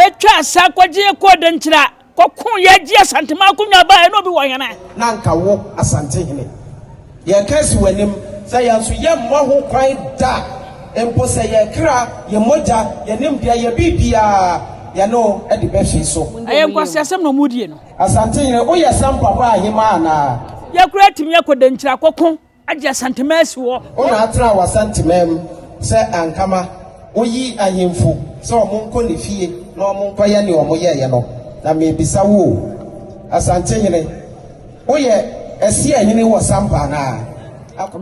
Etwaa saa kɔgye yɛ kɔɔ Dankyira kɔkoo yɛ gye Asanteman akonnwa bae ɛne obi wɔ hene. Na anka wo Asantehene yɛka asi w'anim sɛ yɛn nso yɛmmɔ ho kwan da mpo sɛ yɛn kra, yɛn mogya, yɛn nimdeɛ, yɛn biribiara yɛne wo de bɛhwe so. Ɛyɛ nkwaseasɛm na wɔredie no. Asantehene, woyɛ sɛ mpaboa ahemaa anaa? Yɛkora atumi akɔ Dankyira akɔko. Agye Asantemaa si hɔ. Wo na atena wɔ Asantemaa mu sɛ Ankama. Wo yi ahemfo sɛ wɔn nkɔ ne fie na wɔn nkɔ yɛ nea wɔn yɛeɛ no. Na merebisa wo o, Asantehene, wo yɛ Asia hene wɔ Sampa anaa?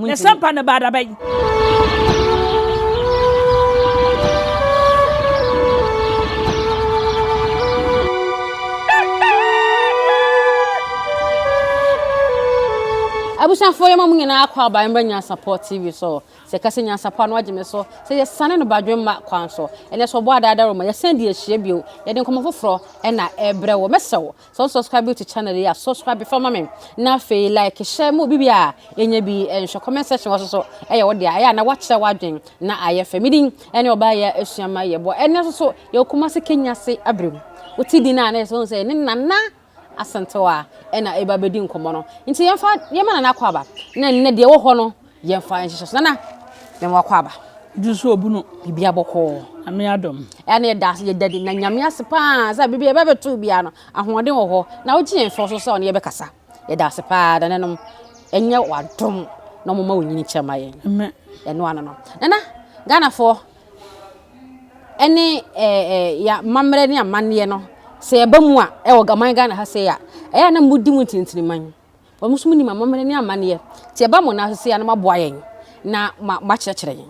Na Sampa no baa da bɛn? abusuafoɔ yɛ ma mo nyinaa kɔ aban bɛ nyansapɔ tv so sɛ kɛse nyansapɔ ano agye me so sɛ yɛsane no badwe mma kwan so ɛnɛ sɛ ɔbɔ adaada roma yɛsɛn de ahyia bio yɛde nkɔmmɔ foforɔ ɛna ɛbrɛ wɔ mɛsɛ wo sɛ wo subscribe to channel yi a subscribe fa ma me na afei like hyɛ mu bibi a ɛnya bi ɛnhwɛ comment section wɔ so so ɛyɛ wo deɛ ɛyɛ a na wakyerɛ w'adwen na ayɛ fɛ medin Ɛne ɔbaa yɛ asua ma yɛ bɔ ɛne soso yɛ okuma se kenya ase abrɛ mu wote din a na yɛ sɛ sɛ ɛne nana asɛntew a ɛna ɛba bɛdi nkɔmmɔ no nti yɛmfa yɛma nana akɔ aba na nnɛ deɛ wɔ hɔ no yɛmfa nhyehyɛ so nana mɛma wakɔ aba jusu obunu bibi abɔkɔɔ ame adom ɛne yɛda ase yɛda di na nyame ase paa sɛ bibi yɛbɛbɛto biara no ahoɔden wɔ hɔ na wogye yɛn fɔ so sɛ ɔne yɛbɛkasa Yɛda ase paa nananom. Ɛnyɛ w'adom na wɔma wo nyini kyɛ ma yɛn. Amen. Ɛno ano no. Nana, Ghanafoɔ ɛne ɛɛ ɛɛ yɛ amammerɛ ne amanneɛ no sɛ yɛba mu a ɛwɔ gaman Ghana ha sɛ yɛ a ɛyɛ a na mo di mo ntinitini man. Wɔn nso mo nim amammerɛ ne amanneɛ. Te ɛba mo nan so sɛ yɛ a na mo aboa yɛn na mo akyerɛkyerɛ yɛn.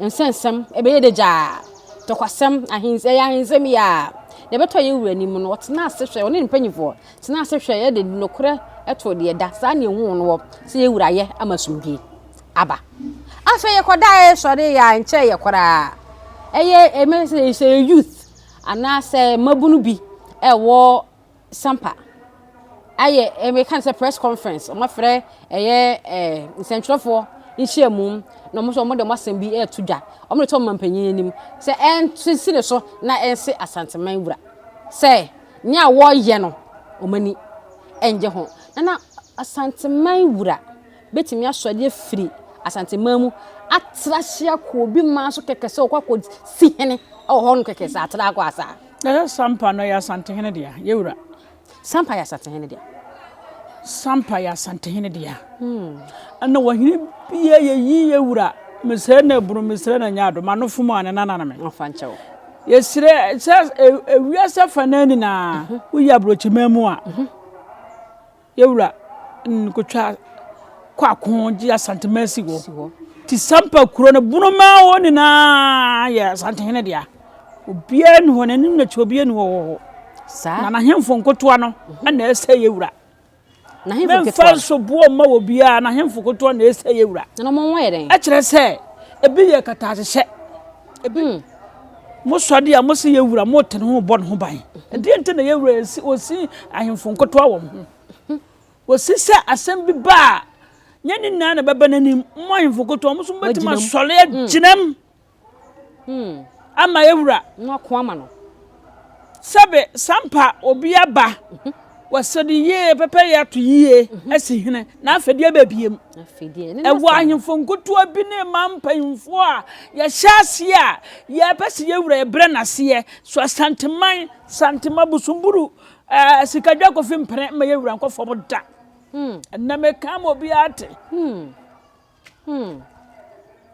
Nsɛnsɛm, ɛbɛyɛ dɛ gyaa. Tɔkwasɛm, ahens ɛyɛ ahensɛm yi aa. Deɛ ɛbɛtɔ yɛn wura anim no, ɔtenaa ase hwɛɛ, ɔne ne mpanimfoɔ tenaa ase hwɛeɛ de nokorɛ too deɛ ɛda. Saa na ɛhuu no hɔ sɛ yɛn wura ayɛ ama asomdwoeɛ aba. Afei yɛkɔdaeɛ sɔreeɛ a, ɛnkyɛeɛ koraa, ɛyɛ ɛmɛ sɛ ɛyɛ youth anaasɛ mmabunu bi ɛwɔ. sampa ayɛ eh, meka no sɛ press conference wɔn afrɛ ɛyɛ eh, nsɛntwerɛfoɔ nhyiamu na wɔn nso wɔn de wɔn asɛm bi ɛreto dwa wɔn de to wɔn mpanyin anim sɛ ɛnsisi ne so na ɛnse asanteman wura sɛ nea wɔreyɛ no wɔn ani ɛngye ho na na asanteman wura bɛtumi asɔ adeɛ firi asanteman mu atra hyia kɔ obi maa so kɛkɛ sɛ ɔkɔ akɔ si hene ɛwɔ hɔ no kɛkɛ sɛ atra akɔ asaa. Na yɛ Sampa no yɛ Asantehene dea, yɛ wura. Sampa yɛ Asantehene dea. Sampa yɛ Asantehene dea. Ɛna wɔhene bia yɛ yi yɛ wura. Mesrɛ na ɛbunu, mesrɛ na ɛnyɛ ado, mano fom a ne nana no me. Ɔfa nkyɛ wo. Yɛsrɛ sɛ ewiase afanaa nyinaa, woyi abrɔkyiman mu a. Yewura Nn kotwaa kɔ ako gye Asantemasi wɔ Tisampa kuro no bono mu a hɔ nyinaa yɛ Asantehene dea. Obiara nni hɔ, n'anim n'akyi obiara nni hɔ wɔ hɔ. Saa. Na n'ahemfo nkotoa no na ɛsɛ Yewura. N'ahemfo nketewa. Memfa nso boɔ mma wɔ biara, n'ahemfo nkotoa na ɛsɛ Yewura. Na wɔn ho yɛ dɛn? Ɛkyerɛ sɛ ebi yɛ kataahyehyɛ. Ebi. Mo sɔ ade a mo se yɛn wura mo te ne ho rebɔ ne ho ban. Ɛdeɛ nti na yɛn wura yɛsi osi ahemfo nkotoa wɔ mo ho. Wɔsi sɛ asɛm bi ba a, nyɛ ne nyinaa na ɛbɛba n'anim. Mo ahemfo nkotoa wɔn nso mobɛtumi asɔre agyinam ama yɛn wura. Na wɔako ama no. Sɛbe sampa obi aba wɔ sɛde yie pɛpɛyɛ ato yie asi hene, na afei deɛ ɛbɛ biem. Ɛwɔ ahemfo nkotoɔ bi ne ma mpanyinfoɔ a yɛhyɛ aseɛ a yɛpɛ sɛ yɛwura yɛbrɛ n'aseɛ so asanteman santema busumburu ɛɛ sikadwa kofi mpene ma yɛwura nkɔ fam da. Ɛnna meka ma obiara te.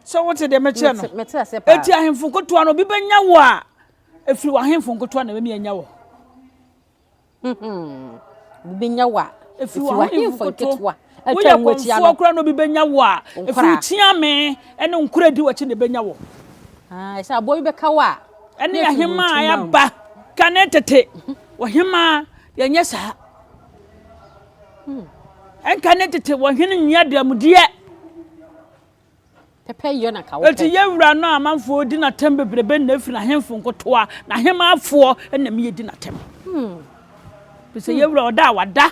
Sɛ wote deɛ mekyerɛ no, ɛti ahemfo nkotoɔ no obi bɛnya wo a Ɛfiri w'ahemfo nkotoa na ɛbɛmi anya wɔ. Obi bɛnya wɔ a. Ɛfiri w'ahemfo nketewa. Woyɛ kɔmfoɔ koraa na obi bɛnya wɔ a. Ɛfiri kyeame ne nkora di w'akyi na ɛbɛnya wɔ. Ɛsɛ aboɔ bi bɛka wɔ a. Ɛne ahemaa yɛaba kane tete. Wɔhemaa yɛnyɛ saa. Ɛnka ne tete wɔhene nyɛ dɛmdeɛ. Enti yɛn wura no amanfoɔ di no atɛm bebrebe na ɛfiri n'ahemfo nkotoa, n'ahemmanfoɔ na ɛma yɛdi no atɛm. Ɛfiri sɛ yɛn wura ɔda a wada.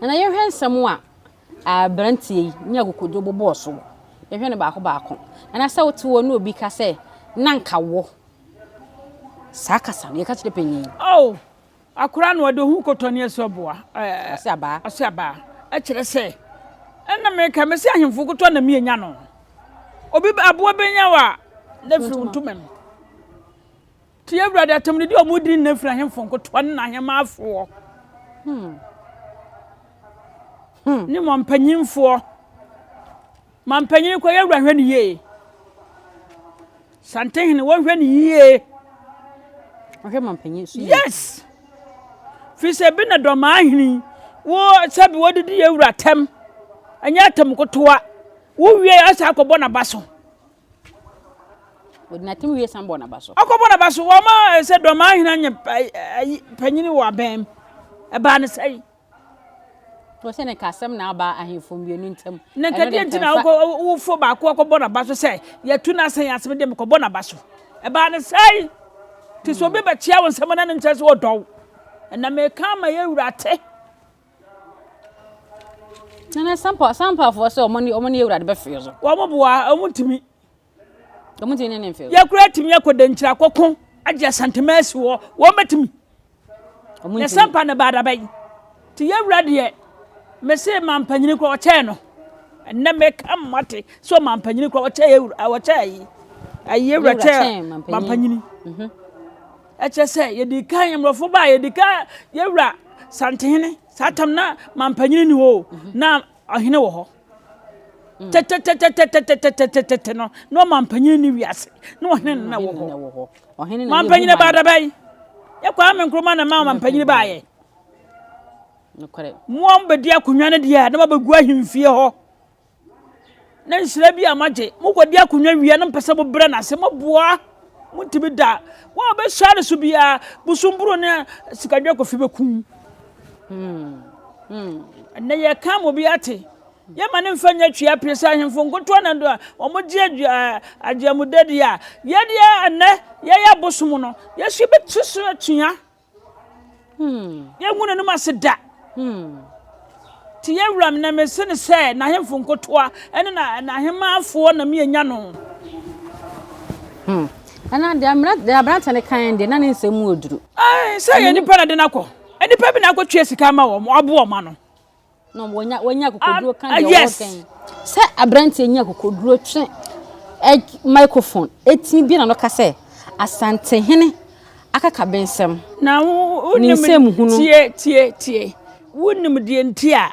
Na yɛhwɛ nsɛm a aberanteɛ yi ne akokodwo bobɔɔ so wɔ. Yɛhwɛ no baako baako. Anaasɛ wote hɔ ne obi ka sɛ, na nka wɔ saa kasa no yɛka kyerɛ panyin. Oh, Akora na ɔde ohu kɔtɔ ne aso aboa eh, aso abaa kyerɛ sɛ ɛna meka mɛsi ahemfo kɔtɔ na mienya no obi aboa bɛnya wa na firi ntoma mu tie awurade atam no di ɔmo diri na firi ahemfo nkɔtɔ ne n'ahemaafoɔ hmm. hmm. ne wɔn mpanyinfoɔ Ma mpanyin kɔ yɛ wura hwɛ no yie. Santehene wɔnhwɛ no yie. Ɔhwɛ ma mpanyin so yie. Yes. Fi sɛ bi na dɔmaa hene wo sɛ bi wɔdidi yɛ wura tɛm. Ɛnyɛ atam kotoa. Wo wie asa akɔbɔ n'aba so. Wɔde n'atam wie san bɔ n'aba so. Akɔbɔ n'aba so wɔma eh, sɛ dɔmaa hene anyɛ eh, eh, panyin wɔ abɛn. Ɛbaa ne sɛn. Wɔse ne kasɛm na aba ahemfo mmienu ntam. Ne nkadeɛ nti na ɔwofoɔ baako akɔbɔ n'aba so sɛ yɛatu n'asɛn ase mede mekɔbɔ n'aba so. Ɛbaa ne sɛe. Nti sɛ obi bɛkyea wo nsɛm na no nkyerɛ sɛ ɔdɔ wo. Ɛna meka ama yɛ wura te. Nana sampa sampafoɔ sɛ ɔmo ne ɔmo ne yɛ wura de bɛfeɛ so. Wɔn boa ɔmo ntumi. Yɛkora atumi akɔ dankyiri akɔko agye asantema asi hɔ wɔn bɛtumi na sampa no baada bɛyi nti yɛwura deɛ mese mampanyini kora ɔkyɛɛ no ɛnɛ meka mmate sɛ ɔmampanyini kora ɔkyɛɛ yɛwura ɔkyɛɛ yi ayi yɛwura kyɛɛ mampanyini mhm. ɛkyɛ sɛ yɛdi kan mmorɔfo ba yɛdi kan yɛwura santehene saa tam na mampanyini ni hɔ mhm. na Ɔhene wɔ hɔ. Tɛtɛtɛtɛtɛtɛtɛtɛtɛtɛtɛtɛ no, na ɔmampanyin ne wiase, na ɔhene no na wɔ hɔ. Mampanyin baa da bɛn? Yɛ Kwame Nkrumah na ɛma ɔmampanyin baayɛ. Mmoa bɛdi akonnwa no deɛ a, na wɔabɛgu ahemfie hɔ. Na nhyira bi a moagye, mokɔdi akonnwa wie a na mopɛ sɛ mobrɛ no ase, moboa a, montumi da. Wɔn a wɔbɛhyia no so biara, bosomburo ne sikadwakɔfi bɛkum. Ɛnnɛ yɛka ma obi ate. Yɛma no mfa nyɛ twea pie sɛ ahemfo nkotoɔ na do a wɔgye agyeamudadi a yɛdeɛ ɛnnɛ yɛyɛ abosom no, yɛso yɛbɛtu so atua. Yɛngu n'anim ase da. Ti yɛ wuram na mese no sɛ n'ahemfo nkotoa ne n'ahemmanfoɔ na mienya no. Ɛna deɛ aberanteɛ no kan deɛ na ne nsɛm mu oduru. Sɛ yɛ nipa na de no akɔ. Nipa bi na akɔtua sika ama wɔn, wɔaboa wɔn ano. na wɔnya wɔnya akokoduro ka deɛ yes. wɔkɛn sɛ aberanteɛ nya akokoduro twe ɛ microphone ɛtumi bi na no ka sɛ asantehene akaka bensɛm na wo ne wonim nsɛm hunu tie tie tie wonim deɛ nti a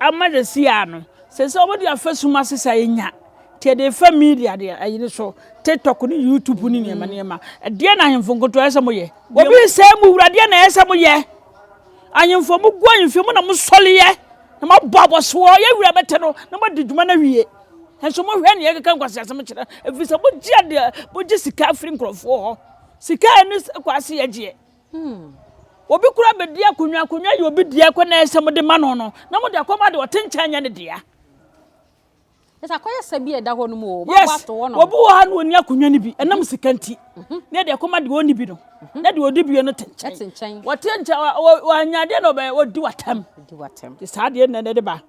ama de si a no sɛ sɛ wɔde afasum ase sa ɛnya nti ɛde fa media deɛ ayi no so tiktok ne youtube ne nneɛma nneɛma ɛdeɛ na ahemfo nkoto ɛsɛ mo yɛ obi nsɛm mu wura deɛ na ɛsɛ mo yɛ Ahenfo, mogu ahemfie mu na mosɔreɛ, na moabɔ abɔsoɔ, yɛn wura bɛte no na moadi dwuma no awie. Nanso mohwɛ nea ɛkeka nkwaseasɛm kyerɛ, ɛfiri sɛ mogye adeɛ, mogye sika firi nkurɔfoɔ hɔ. Sika a ɛne kwaase yɛ gyeɛ. Hmm. Obi kura bɛdi akonnwa, akonnwa yɛ obi deɛ kɔ na ɛsɛ mode ma no no, na mode akɔma de ɔte nkyɛn nyɛ ne dea. Yes, obi wɔ ha na ɔni akonnwa no bi, ɛnam sika nti, na ɛde ɛkɔma deɛ ɔni bi no, na deɛ ɔdi bi no te nkyɛn. Wɔte nkyɛn, wɔanya adeɛ na ɔdi watam. Te saa deɛ na ɛde ba.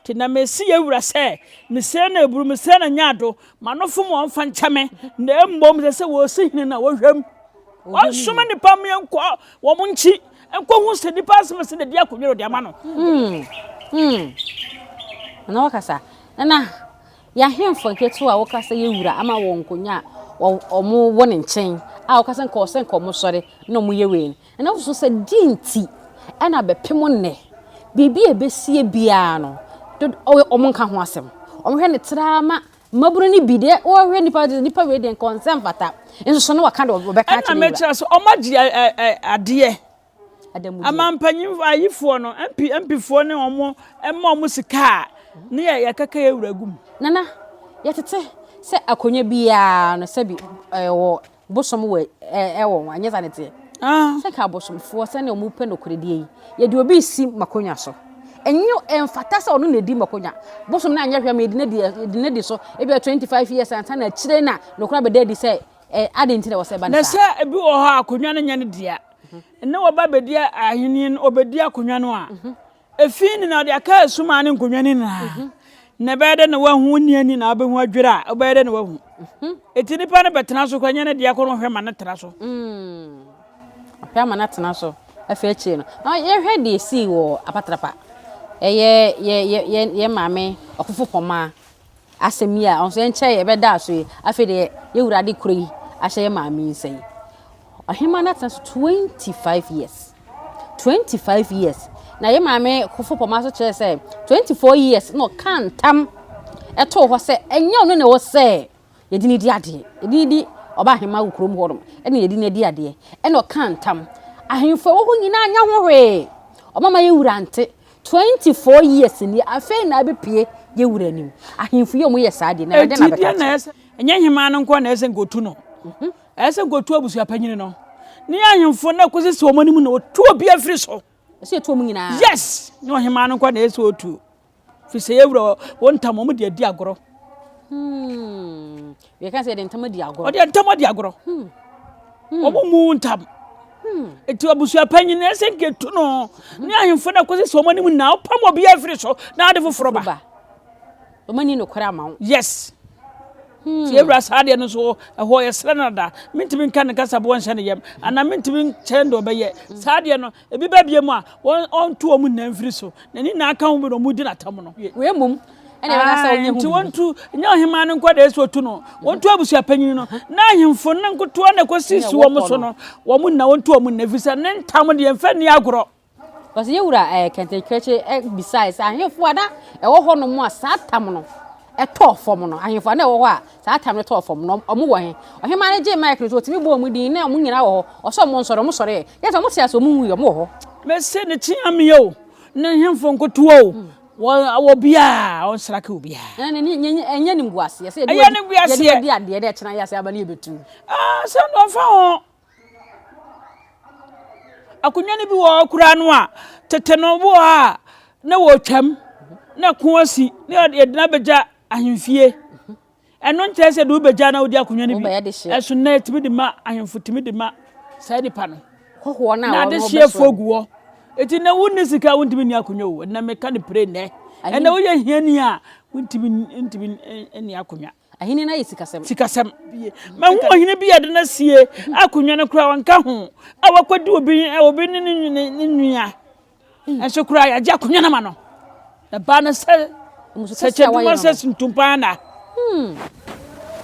Te na mesi yɛ wura sɛ, mesrɛ na eburu, mesrɛ na nya ado, ma no fom wɔn fa nkyɛ me, na mmom sɛ sɛ wɔsi hene na wɔhwɛm. Wɔnsoma nipa mmea nkɔ wɔn nkyi. Nkohu sɛ nipa nsɛm ɛsɛ na ɛdi akonnwa na ɔde ama no. Nana wakasa. Nana, yɛahemfo nketewa a wɔkasa yɛ wura ama wɔn nkonnwa a wɔwɔ ne nkyɛn a wɔkasa nka ɔsɛ nka wɔsɔre na wɔyɛ wei no. Nana wosusu sɛ di nti ɛna bɛpem nnɛ biribi a ɛbɛsie biara no wɔn nka ho asɛm. Wɔhwɛ no traa ma Mmabunu no bi deɛ wɔhwɛ nnipa de nnipa wei deɛ nka wɔn nsa mfata nso so na wɔka de wɔbɛka akyerɛ wura. Ɛna mekyerɛ so wɔn agye ɛ ɛ ɛ adeɛ. Adamudeɛ. Ama mpanyin ayifoɔ no MP MPfoɔ ne wɔn ɛma wɔn sika a ne yɛ yɛkaka yɛ wura gu mu. Nana yɛtete sɛ akonnwa biara no sɛbi ɛwɔ bosom wɔ ɛɛ wɔn anyɛ sa ne teɛ. Ah. Sɛ ka abosomfoɔ sɛnea wɔn pɛ nokorɛdie yi yɛde obi si makonwa so. Ɛnyɛ ɛmfata sɛ ɔno na edi makonwa. Bosom na anyɛ hwɛ ma yɛde na di yɛde na di so ebi a 25 years ansa na akyire na nokorɛ abɛda adi sɛ ɛ adi nti na wɔsɛ ba ne saa. Na sɛ ebi wɔ hɔ a akonwa no nyɛ ne dea. Mhm. Na wɔba abɛdi ahenni no ɔbɛdi akonwa no a. Mhm. Efi ne na ɔde aka asu maa ne nkonnwa no nyinaa. Mhm. Na ɛbɛyɛ dɛ na wahu wo nea ni na wobɛhu adwiri a ɛbɛyɛ dɛ na wahu. Mhm. Eti nipa no bɛtena so kora nyɛ ne deɛ kɔ no hwɛ ma no tena so. Mm. Ɔpɛ ama no atena so afei akyire no. Na yɛhwɛ deɛ esii wɔ apatrapa. Ɛyɛ yɛ yɛ yɛ maame ɔfofo pɔmaa. asɛm yi a ɔnso ɛnkyɛ yɛ bɛda aso yi afei deɛ yɛ wura de kuro yi ahyɛ yɛ maame yi nsa yi ɔhema no atena so 25 years 25 years na yɛ maame kofo pɔma so kyerɛ sɛ 24 years na ɔka ntam ɛtoo hɔ sɛ ɛnyɛ ɔno na ɛwɔ sɛ yɛde ne di adeɛ yɛde ne di ɔba ahema wɔ kurom hɔ nom ɛna yɛde ne di adeɛ ɛna ɔka ntam ahemfo ɛwɔ hɔ nyinaa anya ho hwee ɔmama yɛ wura nte Twenty four years ni afei na abɛpue yɛ wura anim. Ahemfo yi a wɔyɛ saa deɛ, na Awurade na abɛka akyerɛ wɔn. Ɛnyɛ hemaa no nko na ɛsɛ sɛ nka ɔtu no. Ɛsɛ sɛ nka ɔtu abusuapanyin no ne ahemfo no kɔsi sɛ wɔn anim na ɔtu obiara firi so. Ɛsɛ yɛtu wɔn nyinaa. Yes! Nyɛ ɔhemaa no nko na ɛsɛ sɛ ɔtu. Firi sɛ yɛwura wɔn ntam, wɔn de adi agorɔ. Hmm. yɛka sɛ yɛde ntam adi agorɔ ɔde ntam adi agorɔ hmm. hmm. ɔmo mu ntam hmm. nti abusua panyin na ɛsɛ nketu no ne ahemfo na kɔsi sɛ ɔmo anim na ɔpam obi afiri so na ade foforɔ ba ɔmo ani nokorɛ ama wo yes nti ewura saa deɛ no so ɛhɔ yɛsrɛ no da mentumi nka ne kasaboɔ nhyɛ ne yam anaa mentumi nkyɛn deɛ ɔbɛyɛ saa deɛ no Ebi bɛbea mu a, wɔn, ɔnto wɔn nyinaa mfiri so, na ne nyinaa ka ho bi na wɔdi no atam no. Wei mmom, ɛnna ɛbɛka sɛ ɔnyɛ ho biribi. Enti wɔntu, nyɛ ɔhemmaa no nko deɛ sɛ ɔtu no, wɔntu abusuapanyin no, na ahemfo no nkotoɔ na ɛkɔsi si wɔn so no, wɔn nyinaa, wɔntu wɔn nyinaa, ɛfiri sɛ ne ntam deɛ, mfa nni agorɔ. Wɔsi yɛn wura ɛɛ Kɛntɛnkrɛkye bisae sɛ, Ahemfo a na ɛwɔ hɔnom a saa tam no tɔɔ fam no, ahemfo a na ɛwɔ hɔ a Saa tam no tɔɔ fam no, wɔn wɔ he? Ɔhemaa no gyee mic no so, otumi bɔɔ wɔn din, na wɔn nyinaa wɔ hɔ. Ɔsɛ wɔn nsɔre, wɔn sɔre ɛ. Kyerɛ sɛ wɔn te ase, wɔn nwui, wɔn wɔ hɔ. Mese ne tea me o, ne hemfo nkotoa o, wɔ obiara, ɔnsrake obiara. Ɛnɛ ne ne ne ɛnyɛ ne mbuaseɛ sɛ yɛde yɛde yɛde adeɛ dɛ ɛkyena yɛ ase aba ne yɛbɛtu. Ah, sɛ nkurɔfoɔ ho Akonnwa no bi wɔ hɔ a wokura no a, tete no wɔ hɔ a na wɔtwam na ɛko asi na yɛde no abɛgya ahemfie. Ɛno nkyerɛ sɛ de wobɛgya na wode akonnwa no bi. Ɛso nnɛ tumi de ma ahemfo tumi de ma saa nipa no. Na adehyeɛfoɔ gu hɔ. Eti na wonni sika a wontumi nni akonnwa o. Ɛnna meka no pere nnɛ. Ɛnna woyɛ hiani a wontumi ntumi nni akonnwa. Ahenni no ayɛ sikasɛm. Sikasɛm. Mahu ɔhene bi a ɔde no asie a akonnwa no koraa ɔnka ho a wakɔdi obi obi ne ne nua. Nso koraa yɛagye akonnwa no ama no. Na baa no sɛ sɛ kyɛduma sɛ ntumpa na.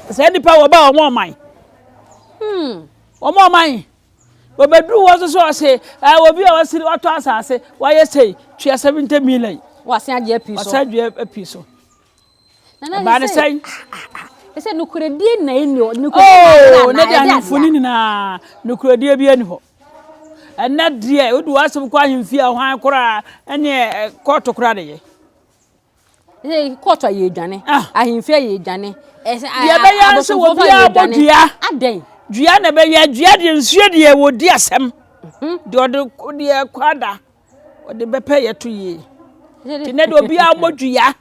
Sɛ nipa wɔ ba wɔn ɔman. Wɔn ɔman. Wɔbɛduru hɔ nso ɔse obi a wasiri watɔ asase wayɛ sɛ tua 70 million. Wɔasan agye api so. Wɔasan agye api so. ɛbaa ne sɛn ɛsɛ nukuredie na ɛni hɔ nukuredie na ɛde ahemfo no nyinaa nukuredie bi ɛni hɔ ɛnɛ deɛ wode w'asɛm kɔ ahemfie a hwan koraa ɛne kɔɔto koraa de yɛ kɔɔto ayɛ adwane ah. ahemfie ayɛ adwane deɛ ɛbɛyɛ sɛ wɔbiaa bɔ dua adɛn dua na ɛbɛyɛ dua deɛ nsuo deɛ wɔdi asɛm mhm. deɛ ɔde deɛ kɔ ada ɔde bɛpɛ yɛto yie nti nɛ deɛ obiaa bɔ dua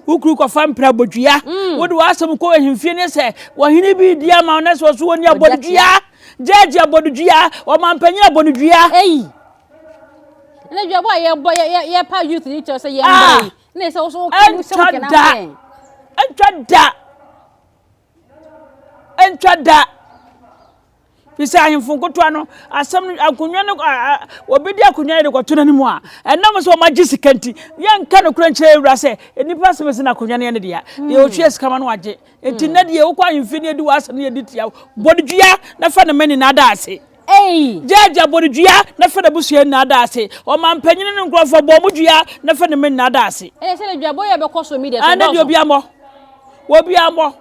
wokuru kɔfa mpira bɔ dua mm. wode w'asɛm kɔ ahemfie ne sɛ wɔhene bi di ama wo na sɛ ɔso wɔni abɔ no dua gyagye abɔ no dua ɔmampanyin abɔ no dua ɛnna dua bɔ a yɛbɔ yɛpa youth ne kyɛw sɛ yɛmmɔ ah. yi na ɛsɛ wo so wokɔ mu sɛ wokɛnam sɛ ɛntwa da ɛntwa da. Ɛfiri sɛ ahemfo nkotoa no asɛm no akonnwa no wɔbɛdi akonnwa no de kɔto no anim a ɛnam sɛ wɔagye sika nti yɛnka nokorɛ nkyerɛ awura sɛ nnipa asɛm ɛsi no akonnwa no yɛ no dea hmm. deɛ ɔtua sika ma no agye nti hmm. nnɛ deɛ wokɔ ahemfie no yɛdi w'asɛm no yɛdi tia bɔdedua na fa ne ma nyinaa da ase Ei! Gyaagyaa bɔ no dua na fa n'abusua nyinaa da ase. Ɔmampanyin ne ne nkurɔfo, bɔ wɔn dua na fa ne mma nyinaa da ase. Ɛne sɛ na duabɔ yi a ɛbɛkɔ so media so dɔɔso. Ɛne deɛ obiara mmɔ. Obiara mmɔ.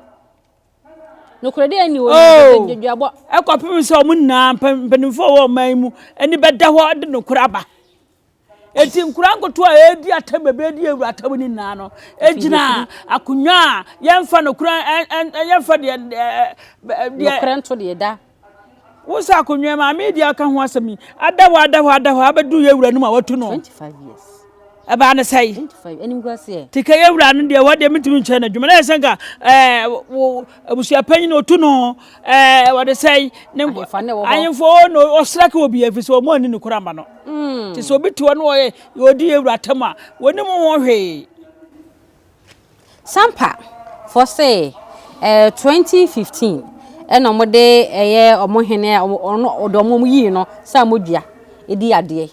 Nokorɛdie nni hɔ nyinaa sɛ sɛ duabɔ. Ɛkɔpem sɛ wɔn nyinaa, mpanimfoɔ a wɔwɔ ɔman yi mu, ani bɛda hɔ de nokorɛ aba. Enti nkwadaa nkotoɔ a ɛredi atɛm baabi adi awura atɛm no nyinaa no gyina akonnwa a yɛmfa nokora yɛmfa deɛ deɛ nokora nto deɛ da wo sɛ akonnwa maame yi deɛ aka ho asɛm yi ada hɔ ada hɔ ada hɔ abɛdu yɛ awura no mu a watu no 25 years ɛbaa ne sɛe 25 animguaseɛ te kɛ yɛ awura no deɛ wɔ deɛ metumi nkyerɛ no adwuma na yɛ sɛ nka ɛɛ abusuapanyin otu no Ɛɛ, wɔde sɛn? Ne ahemfo ne wɔ hɔ. Ahemfo wɔ no ɔsra ka obi ɛfiri sɛ wɔn ani ne kora ma no. Mm. Te sɛ obi te hɔ no ɔyɛ ɔdi yɛ wura tam a wɔnim ho hwee. Sampa fɔ sɛ ɛɛ 2015 ɛna wɔn de ɛyɛ wɔn hene a wɔn ɔde wɔn wɔn yii no sɛ amodua edi adeɛ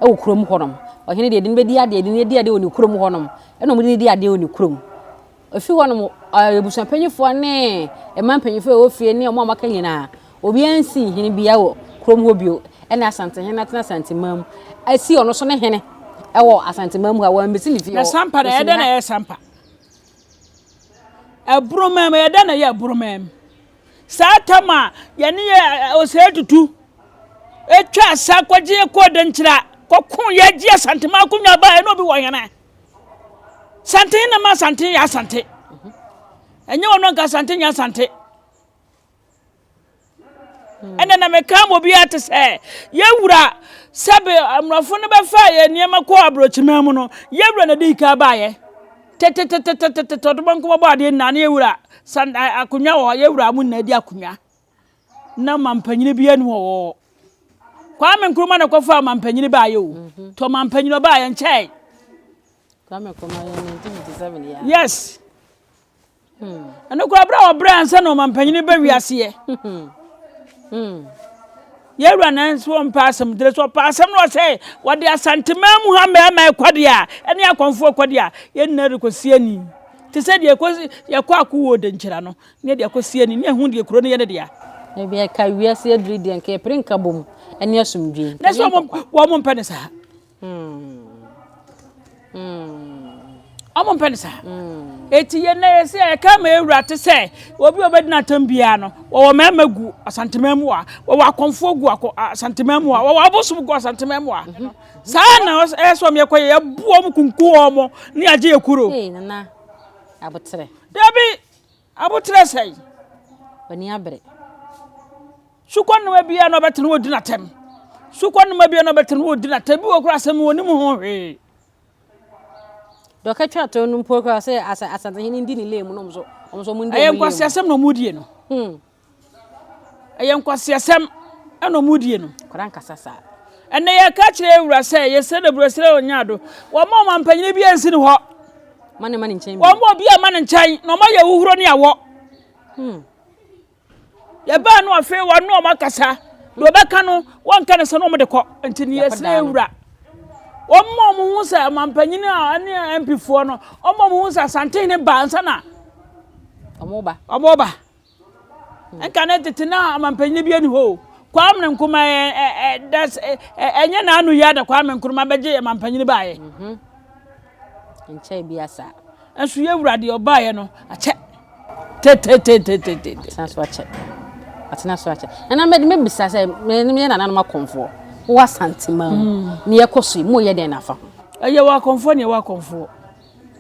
ɛwɔ kurom hɔ nom. Ɔhene deɛ ɛde no bɛdi adeɛ ɛde no adi adeɛ wɔ ne kurom hɔ nom ɛna wɔn de no di adeɛ wɔ ne kurom. Ɛfiri hɔ nom abusua mpanyinfoɔ ne mmaa mpanyinfoɔ a ɛwɔ fie ne wɔn a wɔaka nyinaa obiara nsi hene bia wɔ kurom hɔ bio ɛna asantehene atena asanteman mu asi ɔno so ne hene ɛwɔ asanteman mu a wɔn mbesi ne fie hɔ. Na sampa na ɛdɛ na ɛyɛ sampa ɛburoman mu ɛdɛ na ɛyɛ ɛburoman mu saa tam a yɛne yɛ ɔsɛɛ tutu ɛtwa asa kɔgye kɔɔ dɛnkyira kɔko yɛ gye asanteman akonnwa baa ɛna obi wɔ hene. Santen na ma Asante yɛ Asante. Ɛnyɛ wɔn nka Asante nyɛ Asante. Hmm. Ɛnna na meka ma obiara te sɛ yɛwura sɛbe mmorɔfo no bɛfa yɛ nneɛma kɔ aburokyiman mu no yɛwura na di ka baayɛ tetetetetetete ɔdoma nkɔmɔbɔ adeɛ nyinaa ne yɛwura akonnwa wɔ hɔ yɛwura mo nyinaa di akonnwa. na ɔmampanin biara ni wɔ hɔ kwame nkrumah na kɔfa ɔmampanin baayɛ o mhm. tɔ ɔmampanin ɔbaayɛ nkyɛn kwame nkrumah yɛ 1957 yɛ yes hmm. ɛno kora berɛ a wɔbrɛ ansa na ɔmampanin ba wiaseɛ hmm. hmm. yɛwura na nso ɔmpa asɛm dere so ɔpa asɛm na ɔsɛ wɔde asantema mu ha mmarima ɛkɔde a ɛne akɔmfoɔ ɛkɔde a yɛn nyinaa rekɔsi ani te sɛ deɛ yɛkɔ akowɔ denkyira no Nea ɛde akɔ sie ni, na ɛho deɛ kuro no yɛ ne dea. Na bia ɛka wiase adiri deɛ nka yɛpere nka bom ɛne asomdwie. Na so wɔn mpɛ ne saa. Wɔn mpɛ ne saa. Eti yɛn na yɛsi a yɛka ma ewura te sɛ obi a ɔbɛdina atam biara no wɔwɔ mmarima gu asanteman mu a wɔwɔ akɔnfoɔ gu akɔ asanteman mu a wɔwɔ abosom gu asanteman mu a saa na ɛyɛ sɛ wɔn yɛkɔ yɛ yɛbu wɔn kunkum wɔn ne agye yɛ kuro. Ee nana abotere. Dabi Aboterɛ sɛn? W'ani abere. Sukɔnoma biara na ɔbɛte no ɔdi n'atɛm. Sukɔnoma biara na ɔbɛte no ɔdi n'atɛm. Bi wɔ kora asɛm wɔnim ho hwee. Dɔkɛ twa tɔn no mpo kora sɛ asantehene ndi ne lɛ mu na ɔmo so ɔmo so ɔmo ndi ɔmo lɛ mu. Ɛyɛ nkwasi asɛm na ɔmo die no. Hmm. Ɛyɛ nkwaseasɛm na ɔmo die no. Nkwadaa nkasa saa. Ɛnna yɛka kyerɛ awura sɛ yɛsrɛ no aburo srɛ ɔnyɛ ado. Wɔma ɔma mpanyin bi ansi ne hɔ. Ma ne ma ne nkyɛn. Wɔma obi a ma ne nkyɛn na ɔma yɛ huhuro ne awɔ. Hmm. Yɛbaa no afei wɔn ne ɔmo akasa. Deɛ ɔbɛka no wɔnka ne sɛ na ɔmo de kɔ. Nti ne yɛsrɛ awura. Wɔma ɔmo ho sɛ ɔma mpanyin a ne MP foɔ no ɔma ɔmo ho sɛ asantehene ba ansa na ɔmo ba. Ɔmo ba. Nka ne tete na ɔmampanyin bi ani hɔ o. Kwame Nkrumah ɛ ɛ ɛ das ɛ ɛ ɛnyɛ n'ano yi ada Kwame Nkrumah bɛgye ɔmampanyin baayɛ. Mhm. Nkyɛn bi asa. Nso yɛ wura deɛ ɔbaayɛ no akyɛ. Tetetetetetete. Atena so akyɛ. Atena so akyɛ. Ɛna mɛ mɛ bisa sɛ mɛ mɛ yɛ nananom akɔnfoɔ. Wɔ asantema mu. Mm. Ne yɛ kɔ so yi mu yɛ dɛn nafa ho. Ɛyɛ wɔ akɔnfoɔ ne yɛ wɔ akɔnfoɔ.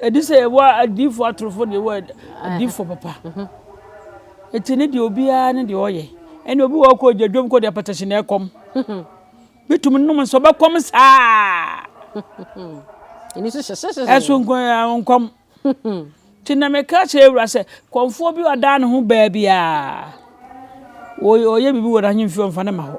Ɛde sɛ yɛwɔ adiyifoɔ atorofoɔ na yɛwɔ adiyifoɔ papa. Ɛti ne deɛ obiara ne deɛ ɔyɛ. Ɛne obi wɔ kɔ gya dwom kɔ deɛ pɛtɛhye na ɛkɔm. Bɛtumi nom nso bɛkɔm saa. Ɛso nkɔm. Nti na meka kyerɛ awura sɛ kɔmfoɔ bi ɔdaa ne ho baabiara. Ɔyɛ biribi wɔ n'ahemfie ɔmfa ne ma hɔ.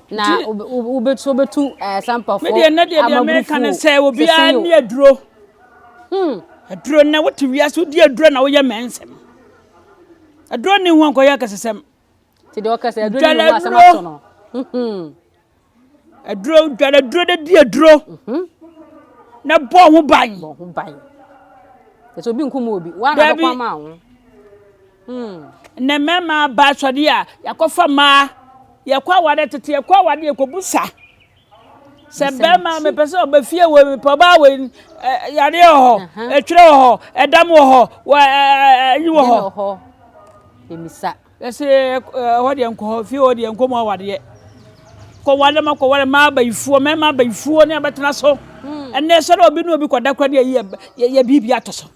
Na wobɛtu wobɛtu sampafoɔ medeɛ nɛ deɛ deɛ meka ne sɛ obiara ne aduro hmm. aduro nɛ wote wiase wodi aduro na woyɛ mɛ nsɛm aduro ne ho ankɔyɛ akɛsesɛm dwala aduro aduro dwala aduro de di aduro mhm. na bɔ ho ban bɔ ho ban ɛsɛ obi nkum obi woana bɛkɔ ama ho Nnɛ mmarima ba asɔre a, yɛakɔfa mmaa. Yɛkɔ awadeɛ tete, yɛkɔ awadeɛ yɛkɔbu sa. Sɛ barima mepɛ sɛ ɔbɛ fie wɔ mepɛ ɔbaa wɔ yadeɛ wɔ hɔ, ɛtwerɛ wɔ hɔ, ɛdam wɔ hɔ, ɛyi wɔ hɔ. Ɛmisa. Yɛsɛ ɛhɔ deɛ nkɔ hɔ, fie hɔ deɛ nkɔ mu awadeɛ. Kɔwale ma kɔwale ma abayifoɔ, mmarima abayifoɔ ne abɛtena so. Ɛnɛ sɛ dɛ obi ne obi kɔda kora deɛ yɛ biribi ato so.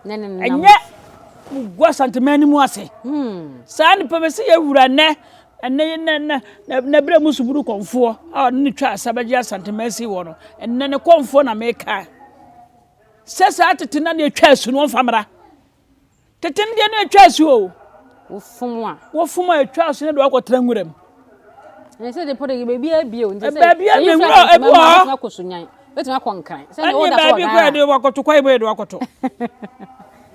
ne ne nam. Ɛnyɛ gu Asanteman no mu ase. Saa nnipa bɛ sɛ yɛwura nnɛ na berɛ mu suburu kɔmfoɔ a ɔne ne twa asa bɛgye Asanteman si wɔ no. Ɛnɛ ne kɔmfoɔ na meka. Sɛ saa tete na ne ɛtwa asu no ɔmfa mmra. Tete no deɛ ne ɛtwa asu o. Wofom a. Wofom a ɛtwa asu ne de wakɔtra nwura mu. ɛsɛ de pɔtɔ yɛ baabi abie o nti sɛ baabi a ne wura ebi wɔ hɔ akɔ so nyan bɛtumi akɔ nkran sɛ ne wɔda kɔ ghana ɛne wakɔto kɔ ebo edo akɔto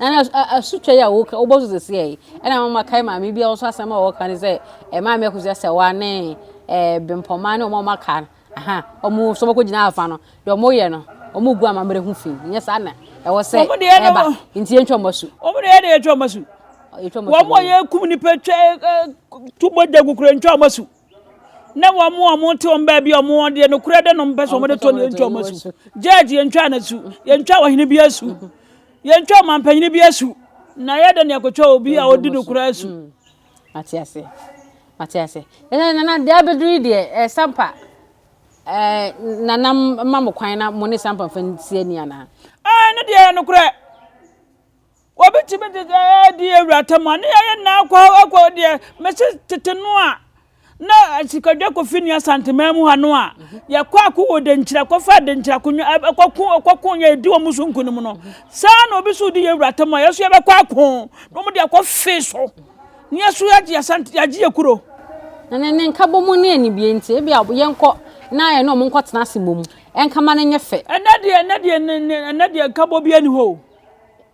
ɛna asutwa yi a wɔka wɔbɔ so sisi yɛ ɛna wɔn ma kae maame bi a wɔso asɛm a wɔka ne sɛ ɛmaame akusi asɛwa ne ɛɛ bempɔmaa ne wɔn a wɔaka no Ahaa, wɔn nso wɔkɔgyina afa no, deɛ wɔyɛ no, wɔgu amammerɛ ho fi, nyɛ saa na ɛwɔ sɛ ɛba, nti yɛntwa wɔn asu. Wɔn deɛ yɛde yɛtwa wɔn asu. Wɔn a yɛkum nipa twa tu mogya gu kura ntwa wɔn asu. Na wɔn a wɔn te wɔn baabi a wɔn deɛ nokorɛ dɛ no mpɛ sɛ wɔn de tɔ no yɛntwa wɔn asu. Judge yɛntwa no asu, yɛntwa ɔhene bi asu, yɛntwa ɔmampanyini bi asu, na yɛde ne akɔtwa obi a ɔdi nokorɛ asu. Mate aseɛ. Mate aseɛ. Ɛnna nana deɛ abɛduru yi deɛ ɛɛ sampa ɛɛ nana ma mo kwan na mo ne sampa nfa nsi ani anaa. Ɛɛ ne deɛ yɛ nokorɛ. Obi tumi de ɛɛ di awuratam a ne yɛyɛ nna akɔ akɔ deɛ mesi tete no a. Na sikadwa kofi nea Asanteman mu ha no a yɛkɔ ako wɔ Denkyira kɔfa Denkyira konwa ɛkɔko ɛkɔko nyɛ edi wɔn so nkunim no saa na obi so di yɛwura tam a yɛso yɛbɛkɔ ako na wɔn de akɔ fe so ne yɛso yɛgye Asante yɛgye yɛ kuro. Na ne ne nkabɔ mu ne anibie nti ebi a yɛnkɔ na yɛne wɔn nkɔ tena ase bɔ mu ɛnkama no nyɛ fɛ. Ɛnɛ deɛ ɛnɛ deɛ ɛnɛ deɛ nkabɔ bi ani hɔ o.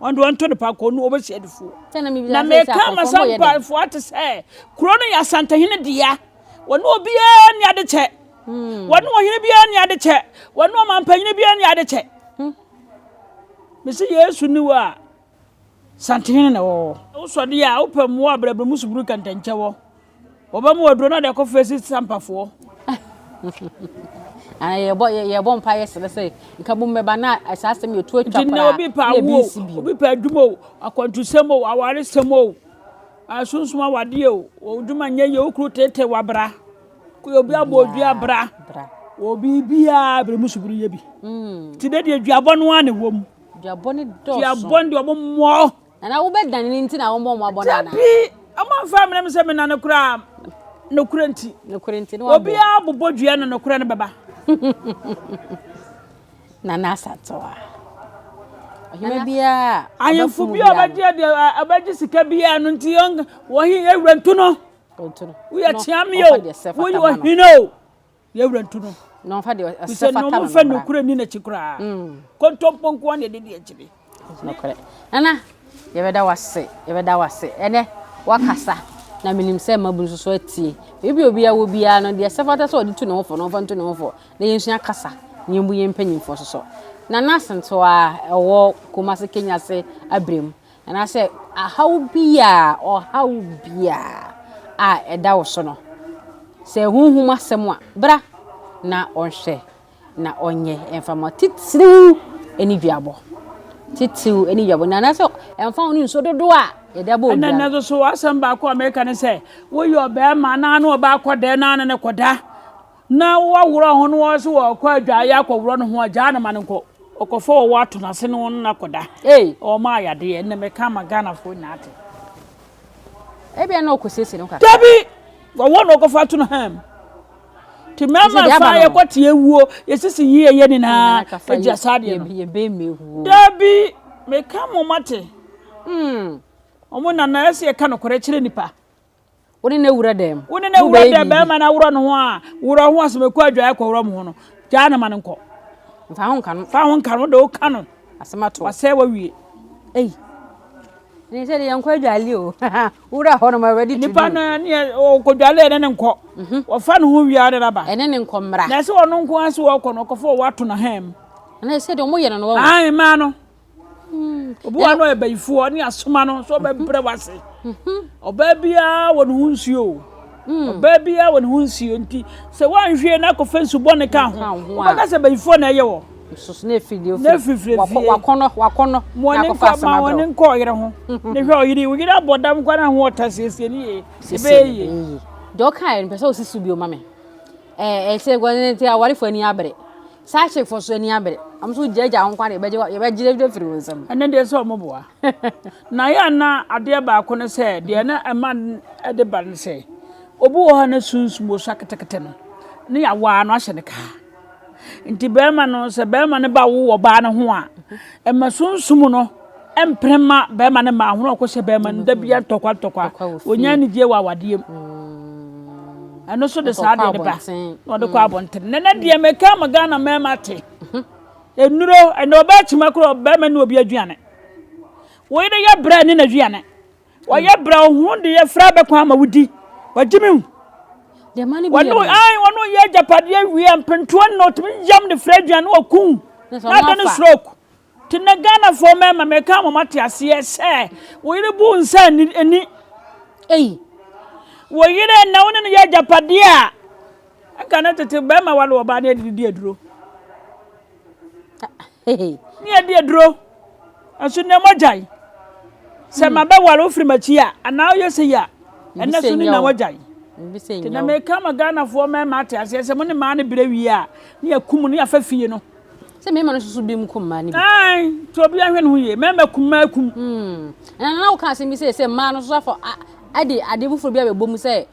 Wɔn deɛ wɔnto no pa kɔ no wɔbɛsi adifoɔ. Na meka ama saa mpaefoɔ ate sɛ kuro no yɛ asantehene dea. Wɔne obiara nni ade kyɛ. Hmm. Wɔne ɔhene biara nni ade kyɛ. Wɔne ɔmampanyini biara nni ade kyɛ. Hmm. Mesi Yesu ni wɔ a santehene na ɛwɔ hɔ. Wosɔdeɛ a wopɛ mmoa a brɛbrɛ mu suburu kɛntɛnkyɛ wɔ. Wɔba mu aduro no ade akɔ fɛ si sampafoɔ. Ana yɛbɔ yɛbɔ mpa yɛ srɛ sɛ nka bom bɛba na saa asɛm yɛ tu atwa koraa. Nti obi pa awo obi pa adwuma o akwantusɛm o awaresɛm o asonsom awadeɛ o odwuma nyɛ yɛ okuru tete wabra obi abɔ odwi abra obi biara bere mu subiri yɛ bi. Ti de deɛ duabɔ no ara na ɛwɔ mu. Duabɔ ne dɔɔso. Duabɔ ne deɛ ɔmo mmɔ. Anaa wobɛdane no nti na wɔmmɔ mmɔbɔ no anaa? Dabi, wɔmfa mmrɛ me sɛ menane koraa nokorɛ nti. Nokorɛ nti na wɔabɔ. Obiara bobɔ dua no nokorɛ no bɛba. Nana Asantewaa. Ɔhema biara a Ahemfo bi a ɔbɛgye adeɛ ɔbɛgye sika biara no nti wɔn wɔn yɛwura ntu no. Ɔntu no. Woyɛ kyeame o, woyɛ ɔhene o. yɛn wura ntu no. Na ɔmfa deɛ ɛsɛ fata no mmra. Sɛ na ɔmfa nokorɛ ni n'akyi koraa. Mm. Kontompo nko ara na ɛde di akyire. Nokorɛ. Nana, yɛbɛda wase, yɛbɛda wase. Ɛnɛ, wakasa. Na menim sɛ mmabu nso so atie. Ebi obi a wɔ biara no, deɛ ɛsɛ fata sɛ ɔde tu ne ho fɔ na ɔmfa ntu ne ho fɔ. Na yɛnsua kasa, na yɛmbu yɛn mpanyimfoɔ so so. Nana Asantewaa, ɛwɔ Kumase Kenya ase abirem. Anaasɛ haw biaa, ɔhaw biaa a ɛda wo so no, sɛ honhom asɛm a, bra na ɔnhwɛ na ɔnyɛ ɛmfa ma titiriw aniduabɔ. Titiriw aniduabɔ. Na anaasɛ ɛmfa ho ne nsuo dodoɔ a yɛde abɔ obiara. Ɛnna nso so asɛm baako a meka ne sɛ, woyɛ ɔbarima na ne ɔbaa kɔdɛ na ne ne kɔda. na wɔaworɔ ho no wɔn so wɔkɔ adwaeɛ akɔworɔ ne ho agyaa no ma no nkɔ ɔkɔfa ɔwɔ ato n'ase ne wɔn no akɔda ee ɔma ayadeɛ na mɛka ama ghanafoɔ nyinaa ate ebia na ɔkɔsiesie no kakra dabi ɔwɔ na ɔkɔfa ato no ham nti mɛma fa yɛkɔte awuo yɛsisi yi ɛyɛ nyinaa agya saa deɛ no dabi meka mo mate wɔn hmm. nana ɛsɛ yɛka nokorɛ kyerɛ nipa Wo ne no wura dɛm. Wo ne no wura dɛm bɛrima no aworɔ ne ho a worɔ ho asɛm ɛkɔ adwaeɛ kɔworɔ mo ho no gyaa no ma no nkɔ. Mfa ho nka no. Fa ho nka no de woka no. Asɛm ato. Wasɛe wawie. Ei. Ne sɛ de yɛn kɔ adwale o. Wura hɔ no ma ready to do. Nipa no ne ɔkɔ dwale ne ne nkɔ. Mhm. Wɔfa ne ho wia ne naba. Ɛne ne nkɔ mmra. Na ɛsɛ wɔn nko ase wɔkɔ no ɔkɔfo wɔato na hɛm. Na ɛsɛ de wɔn yɛ no no wɔn. Ayi maa no. Obi wɔ hɔ no ɔyɛ bayifoɔ ne asoma no sɛ ɔbɛbrɛ wase. Ɔbaa biara wɔ ne ho nsuo o. Ɔbaa biara wɔ ne ho nsuo nti sɛ woanhwie na akɔfa nsu bɔne ka ho wobɛka sɛ bayifoɔ na ɛyɛ wɔ. Nsusu na efiri na efiri fie. Wakɔnɔ wakɔnɔ na akɔfa asoma brɛ. Wɔne nkɔ ɔyere ho. Ne hwɛ ɔyere wo yere abɔ dam kwa na ho ɔta siesie ne yie. Ebe yie. Deɛ ɔka yɛ no pɛ sɛ ɔsi so bio ma me. Ɛɛ ɛsɛ wɔn ti awarefoɔ ani abere. Saa akyefo so ani abere. Wɔn nso gye agya wo nkwa de bɛgye yɛbɛgye agya firi wo nsam. Ɛnɛ deɛ sɛ wɔn boa. Na yɛ na adeɛ baako ne sɛ deɛ na ɛma ɛde ba ne sɛ obi wɔ hɔ a na sunsum wɔ so aketekete no ne yɛawaa no ahyɛ ne kaa. Nti bɛrima no sɛ bɛrima no ba wo ɔbaa no ho a ɛma sunsum no. Ɛmpene mma barima no mma ahorɔ kɔhyɛ barima no da bia ntɔkwa ntɔkwa ɔnya anigyeɛ wɔ awadeɛ mu mm. ɛno so de saa deɛ no ba na ɔde kɔ mm. abɔntene na na deɛ meka ma ghana mmarima te mhm. nnuro ɛnɛ ɔbaa kyima korɔ barima ne obi aduane wɔyɛ dɛ yɛ brɛ ne n'aduane wɔyɛ mm. brɛ ɔho de yɛ fra bɛkɔ ama wodi wagye me hu wɔne yɛ agyapadeɛ wie mpentoɔ nna ɔtumi yam de frɛ aduane wɔku na ada ne stroke Nti nnɛ Ghanafoɔ mmarima meka ama mo ate aseɛ sɛ wo yere bu wo nsa ani. Ei, wo yere na wo ne no yɛ agyapadeɛ a, nka ne tete barima wale ɔbaa ne yɛde di aduro. Ne yɛde aduro. Nso nnɛ mogyae. Sɛ mabɛwale wo firi m'akyi a, anaa woyɛ sɛ yi a, ɛnɛ so ne na wagyae. Nti na meka ama Ghanafoɔ mmarima ate aseɛ sɛ mo ne maa no berɛ wie a, ne yɛakum no, ne yɛafa fie no. Sɛ mmarima no susu bi mu kum mmaa no bi. Ae, nti obi ahwɛ ne ho yie. Mmarima kum mmaa kum. Hmm. Ɛna na woka asɛm bi sɛ sɛ mmaa no so afɔ ɛde adeɛ foforɔ bi abɛbɔ mu sɛ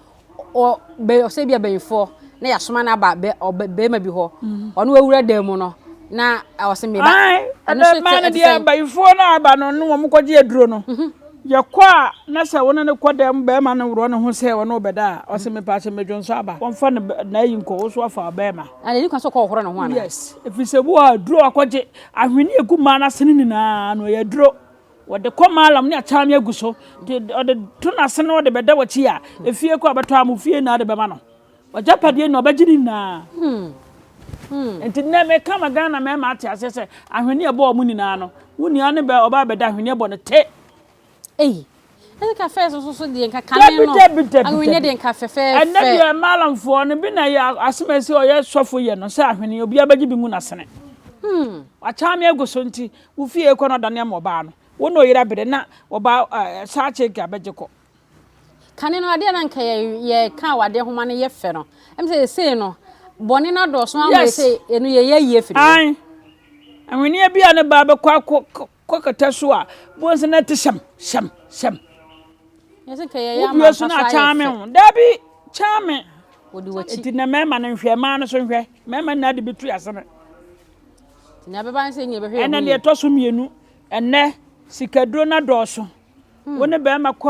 ɔ bɛ ɔsɛ bi abɛnfoɔ na yɛasoma no aba bɛ ɔ bɛrima bi hɔ. Hmm. Ɔno awura dan mu no na ɔsɛ meba. Ae, ɛna mmaa no deɛ abayifoɔ no aba no ne wɔn kɔgye aduro no. Mhm. Yɛkɔ a na sɛ wo ne no kɔ dan mu bɛrima no worɔ ne ho sɛ ɔne wo bɛda a ɔsɛ mepa sɛ medwonsɔ aba. Wɔmfa ne na ayi nkɔ wo so afa ɔbɛrima. Na n'ani kwan sɛ ɔkɔhohoro ne ho anaa? Yes, ɛfiri sɛ wo a aduro akɔgye ahweneɛ agu mmaa no asene nyinaa no, ɛyɛ aduro. Wɔde kɔ maalam ne akyaameɛ agu so, de ɔde to n'asene na ɔde bɛda w'akyi a, efie kɔ a ɔbɛtɔ a mo fie nyinaa de bɛma no. W'agyapadeɛ nyinaa ɔbɛgye ne nyinaa. Hmm. Hmm. Nti nnɛ meka ma Ghana mmarima ate aseɛ sɛ ahweneɛ bɔ wɔn nyinaa no, wo nua no bɛ ɔbaa bɛda ahweneɛ bɔ no te. Ei! Ɛnde ka fɛɛfɛ nso so deɛ nka kane no. Dabi, dabi, dabi, Ahweneɛ deɛ nka fɛfɛɛfɛ. Ɛnnɛ deɛ Malamfoɔ no, bi na ɛyɛ asɛmasi a ɔyɛ sɔfo yɛ no sɛ ahweneɛ, obiara bɛgye bi mu na asene. Wɔakyaa me agu so nti, wo fie rekɔ no adane ama ɔbaa no. Wo na ɔyere abere na ɔbaa ɛɛ saa kyeke a bɛgye kɔ. Kane no adeɛ a na nka yɛka awadeɛ nhoma no yɛ fɛ no, ɛm sɛ seesei no bɔne no adɔɔso ama yɛ sɛ ɛno yɛyɛ ayie afiri hɔ. Ae. Ahweneɛ bi a ne ba bɛkɔ akɔ Kɔ kɛtɛ so a, bohu sɛ na ɛte hyɛm, hyɛm, hyɛm. Wodua so na akyɛn me ho. Dabi, kyɛn me. Nti na mmarima no nhwɛ, mmaa no so nhwɛ. Mmarima nna de bɛtu ase no. Ɛna deɛ ɛtɔ so mmienu, ɛnɛ sikaduro no dɔɔso. Hmm. Wo ne barima kɔ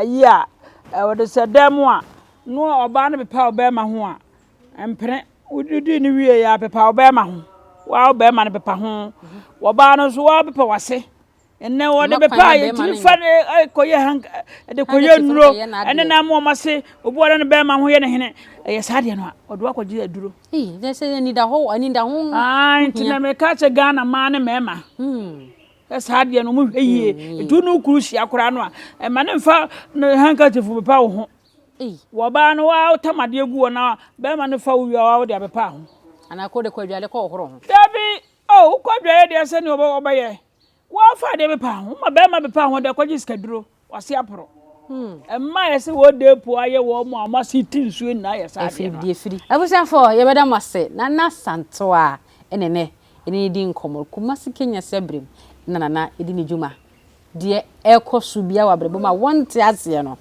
ayi a, wɔde sɛ dan mu a, na ɔbaa no pepa ɔbarima ho a, mpene. Wodidi no wie yɛ apepa wo bɛrima ho. Waa wo bɛrima no pepa ho. Wɔbaa no nso waa pepa wase. Ɛnɛ wɔde bɛpa a yɛtumi fa no kɔyɛ hanka de kɔyɛ nnuro ɛne na ama wɔn ase obi wɔde ne bɛrima ho yɛ ne hene ɛyɛ saa deɛ no a wɔde wakɔgye aduro. Nti na meka kyɛ Ghana maa ne mmarima sɛ saa deɛ no wɔhwɛ yie. Ɛtu no kuru hyia koraa no a ɛma ne mfa ne hankatifo pepa wo ho. ei. Wɔ baa no waa wo tam adeɛ gu hɔ na bɛɛma no fa wo wie a waa wo de abɛpa ho. Anaa kɔ de kɔ adwareɛ kɔ hohoro ho. Dabi oh wo kɔ adwareɛ deɛ sɛ neɛ ɔbɛ ɔbɛyɛ waa fa adeɛ bɛpa ho wo ma bɛɛma bɛpa ho de kɔ gye sika duro wase aporo. Mmaa yɛ sɛ wɔ dee po ayɛ wɔ mo a ɔmo ase ti nsuo nyinaa yɛ saa adeɛ no a. Efiri efiri. Abusuafoɔ yɛ bɛda mo ase Nana Santoa ɛna ɛnɛ yɛne no di nkɔmɔ Kumasi Kenya Siabirem na Nana di ne dwuma Deɛ ɛrekɔ so biara wɔ abrabɔ mu a wonte aseɛ no,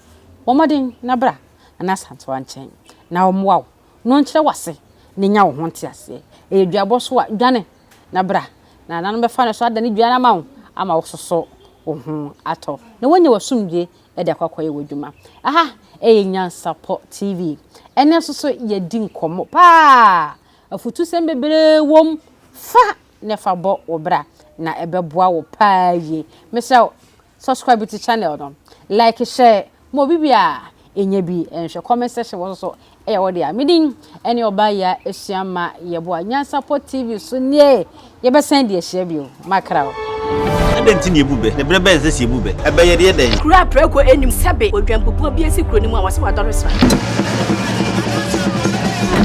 bɔ mmɔden na bra Nana Asantewa nkyɛn na ɔmmoa wo na ɔnkyerɛ wo ase na nya wo ho nteaseɛ. Ɛyɛ dwabɔ so a, dwane na bra na Nana no bɛfa ne so adane dua no ama wo ama woasoso wo ho atɔ na woanya w'asomdwoeɛ de akɔ akɔyɛ w'adwuma. Aha yɛ Nyansapɔ TV. Ɛnnɛ nso so yɛdi nkɔmmɔ pa ara a afutusɛm bebree wom fa na fa bɔ wo bra na ɛbɛboa wo paa yie mesrɛ wo subscribe to channel no like share ma obi bi a ɛnyɛ bi nhwɛ comment section wɔ so so ɛyɛ wɔ deɛ medin ɛne ɔbaa yɛ ɛsua ma yɛboa nyansapɔ tv so nie yɛbɛsan deɛ hyia bio makra wo Ɛdɛn nti na ebu bɛ? Ne bere bɛn sɛ si ebu bɛ? Ɛbɛyɛ deɛ dɛn? Kuro a prɛko nnim sɛbe odwanpopɔ bi asi kuro no mu a wɔse wadɔre sra.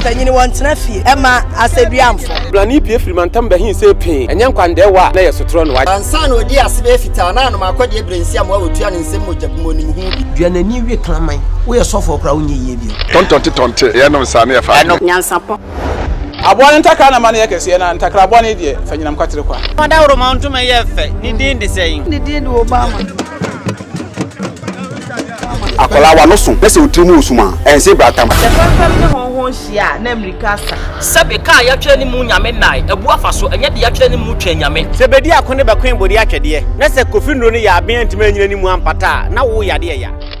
Mpanyini wɔn tena fie ɛma asɛduamfo. Brane pie firi mantam bɛhen sɛ pee, ɛnyɛ nkwandaɛwa a na ɛyɛ sotorɔ noa. Ansa na ɔdii ase bɛyɛ fitaa, na anom akɔdeɛ berɛ nsiam a ɔtua ne nsam mogya bi mu ɔnim ho bi. Dua n'ani we kraman. Woyɛ sɔfoɔ koraa a wonyɛ yie bio. Tɔntɔnte tɔnte, yɛnom nsa na yɛfa nom. Nyansapɔ. Aboa no ntakra na mma no yɛ kɛseɛ, na ntakraboa no deɛ, fa nyinam kwatere kwa. Dawuroma ntoma yi yɛ fɛ, ne din de sɛn? Ne din de Obama. Akwadaa w'ano so na sɛ otiri mu wɔ sum a, ɛnsee bratamu. Sɛ fɛmfɛm ne hɔnho nhyia a, na mmirika asa. Sɛbe kaa yɛatwerɛ ne mu Nyame nnae abu afa so, ɛnyɛ deɛ yɛatwerɛ ne mu Twɛn Nyame. Sɛ bedi ako ne bɛkoe bode atwɛdeɛ, na sɛ Kofi nnuro no yɛ aben antumi anyina ne mu ampata a, na wo yadeɛ ya.